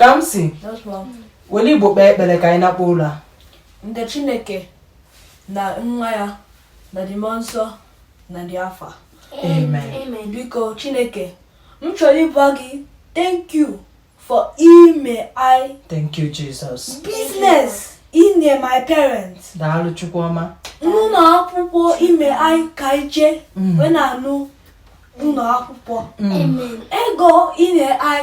kamsi were igbo kpee ekpere ka anyị nakpuo ụla in the chineke na nwa ya na the mmụọ nsọ na the afa biko chineke m chọrọ ịgwa gị thank you for ime i thank you jesus business inye my parents daalụ chukwu ọma n'ụlọ akwụkwọ ime i ka i je mm. wee na-anụ ụlọ akwụkwọ mm. ego inye i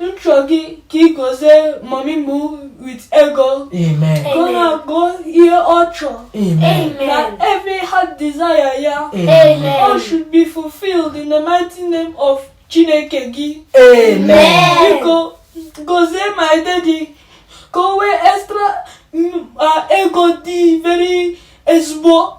m chọ gị ka ị gozie mummy m with ego ka ọ na-ego ihe ọ chọrọ na every heart desire ya all should be fulfilled in the mighty name of chineke gị biko gozie my daddy ka o nwee extra ego dị very ezigbo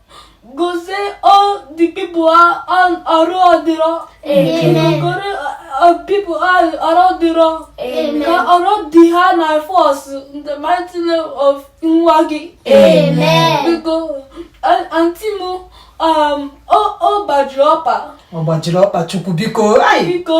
gozie all the people on ọrụ ọdịrọ goro people on ọrụ ọdịrọ ka ọrụ dị ha na force in the mighty name of nwa gị biko anti m um, ọ gbajiri ọkpa ọ gbajiri ọkpa chukwu biko biko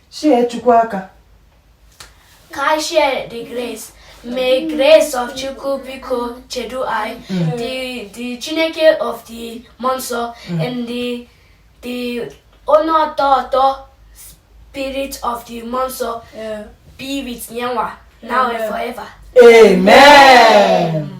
Share Chukwu aka. Ka anyị share the grace. May grace of Chukwu biko chedu anyị. Mm. The the Chineke of the Mmụọ Nsọ mm. and the the onye ọtọ ọtọ spirit of the Mmụọ Nsọ be with yanwa now and forever. Amen.